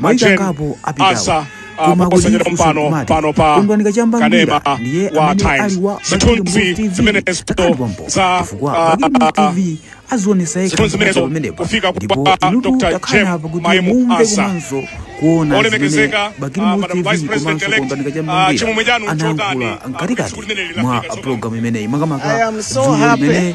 maitangapo apitawo koma kulifusokumati kondwani kachamba ngwira ndiye amene ali wa bakili muluzi tv takaliwa mpo chifukwa bakili muluzi tv azionesa yekha zimene pamenepa ndipo inutu takhala apa kuti mumve komanso kuona zimene bakili muluzi tv komanso kondwani kachamba ngwira anayankhula mkatikati mwa pulogalamu imeneyi makamaka dzulo limeneli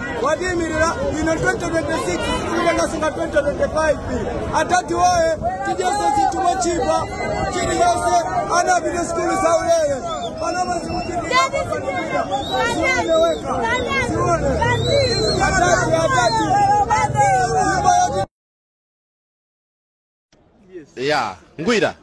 watiimirira ino 2026 kulenga sunga 2025 atati woyee tidyese zinthu mochipa chilichonse ana apite sikulu za ulere panama zikuchiiaaiweka zione atati atati ya ngwira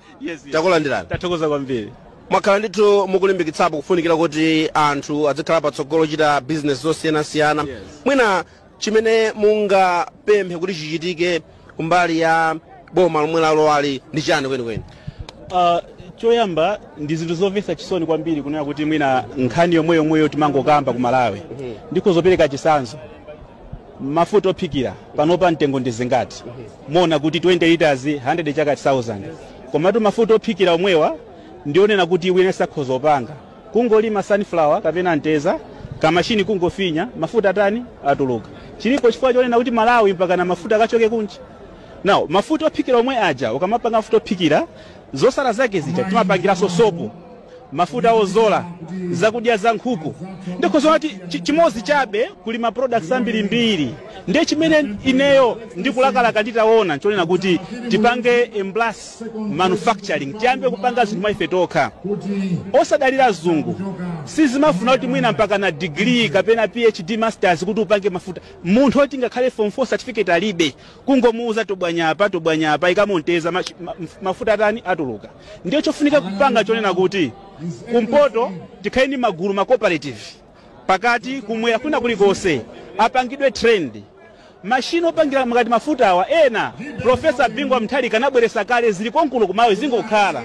takulandirani tathokoza kwambiri mwakhala ndithu mukulimbikitsapo kufunikira kuti anthu azikhala patsogolo kuchita bizinesi zosiyanasiyana Yes. mwina chimene mungapemphe kuti chichitike kumbali ya boma lomwe lalowali ndi chani kwenikweni Uh, choyamba ndi zinthu zomvetsa chisoni kwambiri kunena kuti mwina nkhani yomweyomweyo timangokamba ku malawi ndiko zopereka chisanzo mafuta ophikira panopa mtengo ndi zingati muona kuti 20 liters 100 chaka 1000 komatu mafuta ophikira omwewa ndi onena kuti wina akhoza kupanga kungolima sunflower kapena mtedza kamashini kungofinya mafuta atani atuluka chilipo chifukwa chonena kuti malawi mpakana mafuta akachoke kunja now mafuta ophikira omwe aja ukamapanga mafuta ophikira zotsala zake zija timapangiranso sopo mafuta odzola zakudya za nkhuku ndiko kunena kuti chi- chimodzi chabe kuli ma products ambirimbiri ndiye chimene ineyo ndikulakalaka nditaona nchonena kuti tipange embrace manufacturing tiyambe kupanga zinthu mwa ife tokha osadalira azungu sizimafuna kuti mwina mpaka na degree kapena phd masters kuti upange mafuta munthu oti ngakhale form 4 certificate alibe kungomuuza tobwanya apa tobwanya apa ikamo mtedza machi- ma- mafuta atani atuluka ndiye chofunika kupanga chonena kuti kumpoto tikhale ndi magulu ma cooperative pakati kumwera kwina kulikonse apangidwe train mashini opangira mukati mafuta awa ena profesa bingu wa mutharika anabweretsa kale zili konkuno kuMalawi zingokhala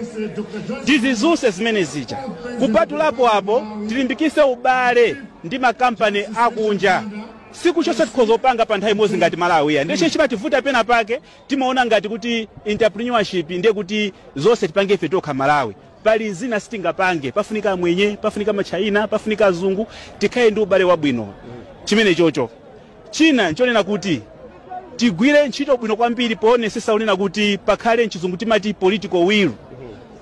tizidzutse zimene zija kupatulapo apo tilimbikise ubale ndi makampani akunja sikuti zonse tikhoza kupanga pa nthawi imodzi ngati malawi ayi ndiye chimene chimativuta pena pake Timaona ngati kuti entrepreneurship ndiye kuti zonse tipange ife tokha Malawi. Pali zina sitingapange, pafunika amwenye, pafunika matchaina, pafunika azungu, tikhale ndi ubale wabwino. Chimene chocho. China nchonena kuti tigwire ntchito bwino kwambiri poonesesa unena kuti pakhale mchizungu timati political will.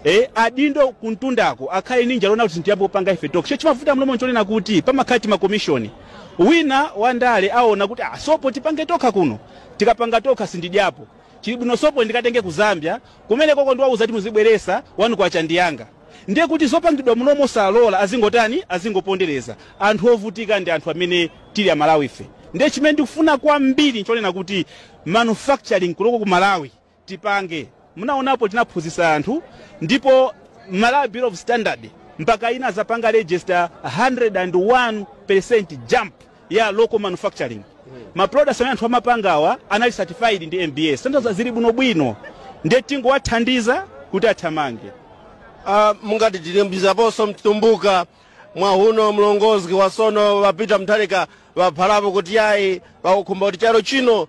Eh, adindo kumtundako akhale ndi njala kuti zinthu tiyambe kupanga ife tokha. Cho chimavuta m'boma nchonena kuti pamakhala timakomishoni. Wina wandale aona kuti ah, sopo tipange tokha kuno. tikapanga tokha sindidyapo. Chili bwino sopo ndikatenge ku Zambia, kumenekoko ndiwauza kuti muzibweresa K1 ndi yanga. Ndiye kuti zopangidwa munomo osalola azingotani? Azingopondereza. Anthu ovutika ndi anthu amene tili aMalawife. Ndiye chimene ndikufuna kwambiri nchonena kuti manufacturing kunoko ku Malawi tipange munaonapo tinaphunzitsa anthu ndipo Malawi Bureau of Standards mpaka inazapanga register 101% jump ya local manufacturing ma products amene anthu amapangawa anali certified ndi MBS kutanthauza zili bwinobwino ndiye tingowathandiza kuti athamange Ah, mungati tilimbizaponso mtumbuka mwahuno mlongozi wasono wapita Mutharika waphalapo kuti yayi wakukhumba kuti chalo chino